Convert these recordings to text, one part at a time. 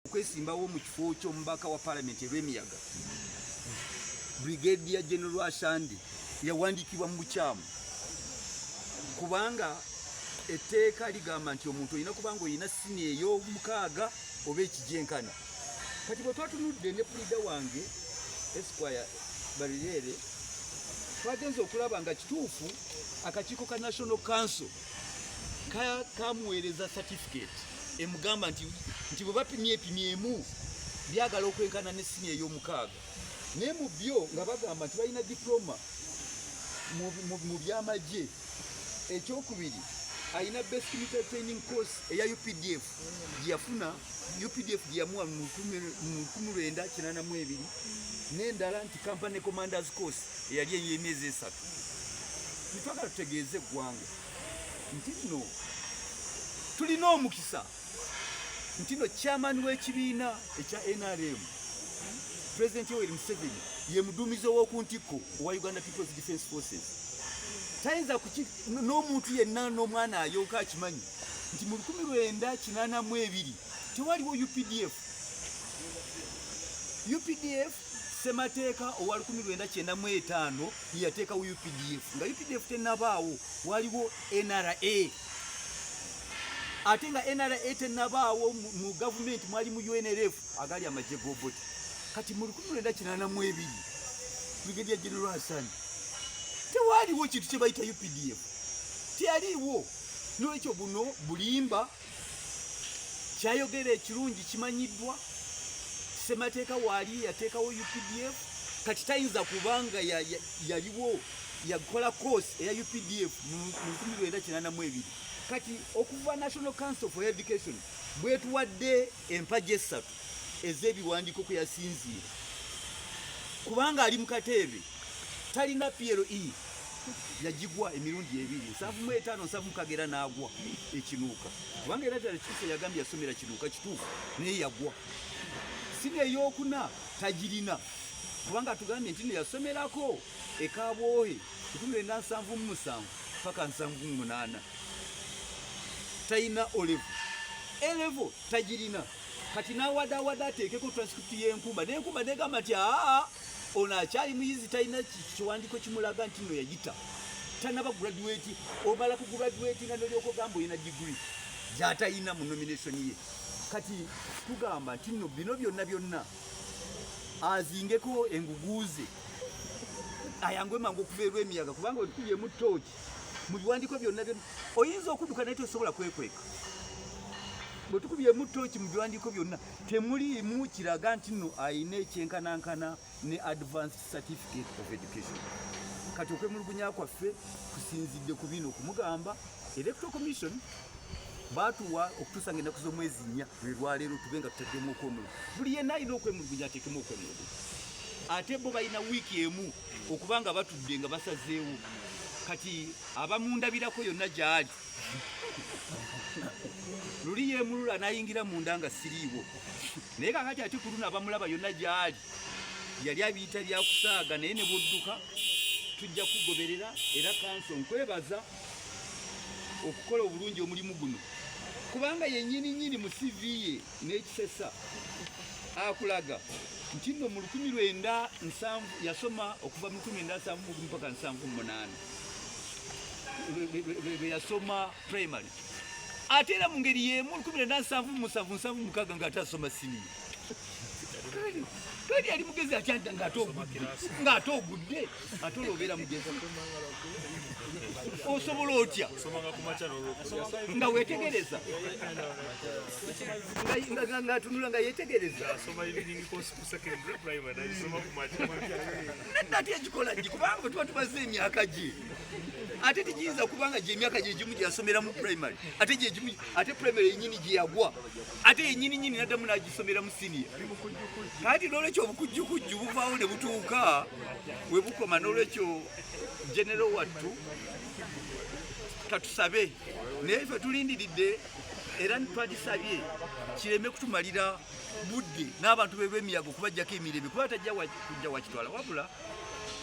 okwesimbawo mu kifo ky'omubaka wa palamenti erw'emiyaga brigadier general ashandi yawandiikibwa mu bukyamu kubanga etteeka ligamba nti omuntu olina kubanga olina sini ey'omukaaga oba ekigyenkana kati bwe twatunudde ne pulida wange esquire barireere twagenze okulaba nga kituufu akakiiko ka national council kamuweereza certificate emugamba nti nti bwe bapimye epimye emu byagala okwenkana ne sini ey'omukaaga naye mu byo nga bagamba nti balina diploma mu byamagye ekyokubiri alina best military training course eya updf yafuna UPDF gyeyamuwa mu lukumi lwenda kinana mu ebiri n'endala nti company commanders course eyali ey'emyezi esatu twagala tutegeeze eggwanga nti no tulina omukisa nti no chairman w'ekibiina ekya NRM President Yoweri Museveni ye muduumizi ow'oku ntikko owa Uganda People's Defence Forces tayinza n'omuntu yenna n'omwana ayonka akimanyi nti mu lukumi lwenda kinaana mu ebiri tewaliwo updf updf semateeka owa lukumi lwenda kyenda mu etaano yeyateekawo updf nga updf tenabaawo waliwo nra ate nga nra tenabaawo mu gavumenti mwali mu unrf agali amagye goboti kati mu lukumi lwenda kinaana mu ebiri brigadier general hassan tewaliwo kintu kyebayita updf teyaliwo nolwekyo buno bulimba kyayogera ekirungi kimanyiddwa semateeka waali yateekawo updf kati tayinza kubanga yaliwo yakola course eya updf mu 1982 kati okuva national council for education bwetuwadde empaji essatu ez'ebiwandiiko kwe yasinziira kubanga ali mu kateebe talina PLE yagigwa emirundi ebiri nsanvu mu etaano nsanvu mukagera n'agwa ekinuuka kubanga era ddala kituufu yagambye yasomera kinuuka kituufu naye yagwa sina eyokuna tagirina kubanga atugambye nti no yasomerako ekabwohe kikumi lwenda nsanvu mu musanvu paka nsanvu mu munaana talina olevo elevo tagirina kati nawadawada ateekeko transcript yenkumba nenkumba negamba nti aa ono akyali muyizi talina kiwandiiko kimulaga nti no yayita tanaba graduate obala ku graduate nga nolyoka ogamba olina degree gyatayina mu nomination ye kati tugamba nti no bino byonna byonna azingeko enguguuze ayangwe mangu okuva erwemiyaga kubanga otukubyemu torch mu biwandiiko byonna byonna oyinza okudduka naye tosobola kwekweka bwe tukubyemu tooki mu biwandiiko byonna temuliimu kiraga nti nno alina ekyenkanankana ne advanced certificate of education kati okwemulugunya kwaffe kusinzidde ku bino okumugamba electoral commission batuwa okutuusa nga ennaku z'omwezi nnya lwe lwaleero tube nga tutaddemu okwemulugu buli yenna alina okwemulugunya ateekemu okwemulugu ate bo balina wiiki emu okuba nga batudde nga basazeewo kati abamundabirako yonna gyali luli yemulula nayingira munda nga siriiwo naye kakati ate kuluna abamulaba yonna gyali yali abiyita byakusaaga naye ne budduka tujja kugoberera era kanso nkwebaza okukola obulungi omulimu guno kubanga yenyini nyini mu sivi ye n'ekisesa akulaga nti nno mu lukumi lwenda nsanvu yasoma okuva mu lukumi lwenda nsanvu mugumu paka nsanvu munaana lwe yasoma primary ate era mu ngeri yeemu olukumi lwenda nsanvu musanvu nsanvu mukaga nga ate asoma siniya kali yali mugezi akyanta ng'ate ogudde ate olwobeera mugezi osobola otya nga wetegereza ngatunula nga yetegereza nati ekikola gi kubanga tuba tubaze emyaka gye ate tegiyinza kubanga gyemyaka gyegimu gyeyasomera mu primary ate primary yenyini gyeyagwa ate yenyini nyini naddamu n'agisomera mu siniya kati n'olwekyo obukujjukujju buvaawo ne butuuka we bukoma n'olwekyo genero wattu katusabe naye ffe tulindiridde era twagisabye kireme kutumalira budde n'abantu be b'emiyaga okubajjako emirembe kuba tajja kujja wakitwala wabula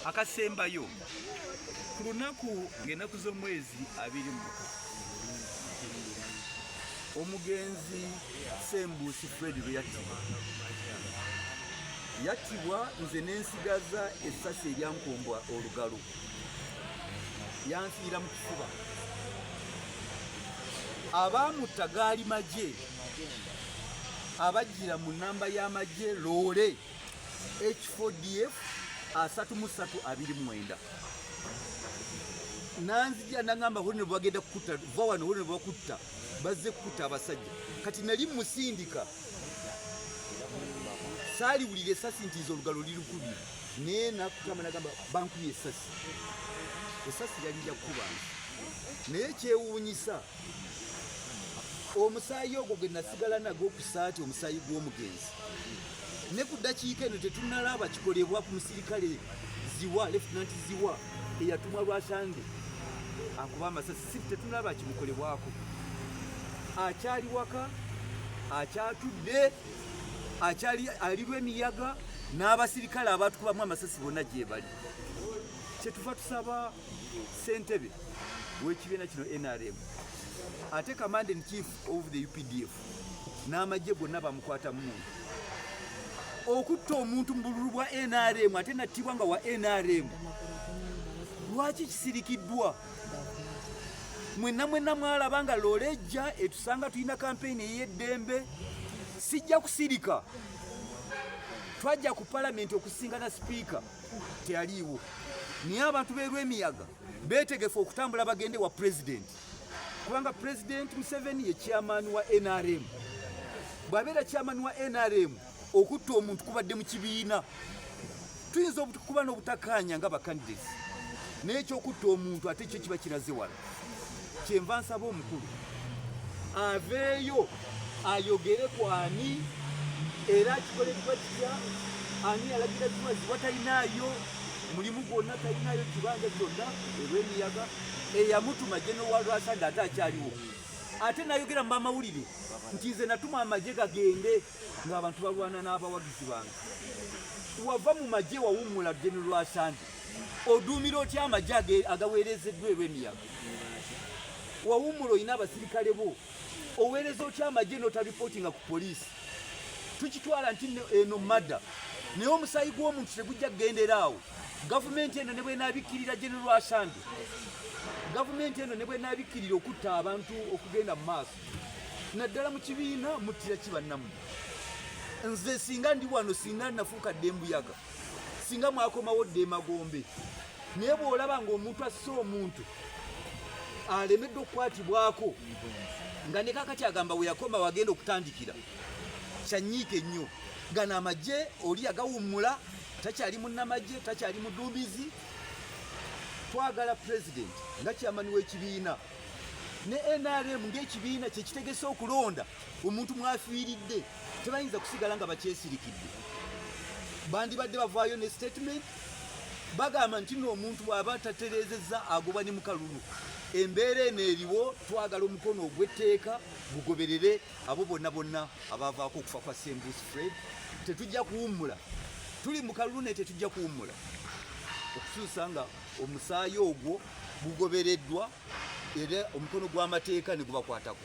akasembayo ku lunaku ng'enaku z'omwezi abiri mu Omugenzi Sembuusi Fred bwe yattibwa yattibwa nze n'ensigaza essasi eryankombwa olugalo yanfiira mu kifuba abaamutta gaali magye abajjira mu nnamba y'amagye loole h4df asatu mu ssatu abiri mu mwenda nanzija nangamba hone bwagenda kukutta va wano hone bwakutta bazze kukuta abasajja kati nali musindika saaliwulira esasi nti nze olugalo lirukubye naye nakutama nagamba bankubye esasi esasi lyali lyakukuba naye kyewuunyisa omusaayi ogwo gwe nasigala nago okusaati omusaayi gw'omugenzi ne ku ddakiika eno tetunalaba kikolebwa ku musirikale ziwa lefutinanti ziwa eyatumwa lwasande akuba amasasi si tetunaba kimukolebwako akyali waka akyatudde akyali alirwa emiyaga n'abasirikale abatukubamu amasasi bonna gyebali kyetuva tusaba sentebe w'ekibiina kino nrm ate command in chief of the updf n'amagye gonna bamukwata mu muntu okutta omuntu mu bululu bwa nrm ate nattibwa nga wa nrm lwaki kisirikiddwa mwenna mwenna mwalaba nga loola ejja etusanga tulina kampeyini ey'eddembe sijja kusirika twajja ku palamenti okusingana sipiika teyaliiwo naye abantu b'erwemiyaga beetegefu okutambula bagende wa pulezidenti kubanga pulezidenti museveni ye kyamaani wa nrm bw'abeera kyamaani wa nrm okutta omuntu kubadde mu kibiina tuyinza okuba n'obutakaanya nga bakandidesi naye ekyokutta omuntu ate kyo kiba kiraze wala kyenva nsaba omukulu aveeyo ayogere ku ani era kikoleddwa kitya ani yalagira kimaziwa talinaayo mulimu gwonna talinaayo kibanja kyonna olw'emiyaga eyamutuma genowalwasanda ate akyaliwo ate nayogera mu bamawulire nti nze natuma amagye gagende ng'abantu balwana n'abawagizi bange wava mu magye wawummula genowalwasanda oduumira otya amagye agaweerezeddwa ebw'emiyaga wawummula olina abasirikale bo oweereza otya amagye notaripootinga ku poliisi tukitwala nti eno madda naye omusaayi gw'omuntu tegujja kugendera awo gavumenti eno ne bwenabikkirira genero asande gavumenti eno ne bwenabikkirira okutta abantu okugenda mu maaso naddala mu kibiina muttira kibannamu nze singa ndi wano singa nafuuka dde embuyaga singa mwakomawo dde emagombe naye bw'olaba ng'omuntu asse omuntu alemeddwa okukwatibwako nga ne kakati agamba we yakoma wagenda okutandikira kyanyiike nnyo gano amagye oli yagawummula takyali munnamagye takyali muduumizi twagala pulezidenti nga kyamani w'ekibiina ne nrm ng'ekibiina kyekitegese okulonda omuntu mwafiiridde tebayinza kusigala nga bakyesirikidde bandibadde bavaayo ne statement bagamba nti no omuntu bwaba taterezeza agoba ne mukalulu embeera eno eriwo twagala omukono ogw'etteeka gugoberere abo bonna bonna abavaako okufa kwa sembus fred tetujja kuwummula tuli mu kalulu naye tetujja kuwummula okusuusa nga omusaayi ogwo gugobereddwa era omukono gw'amateeka ne gubakwatako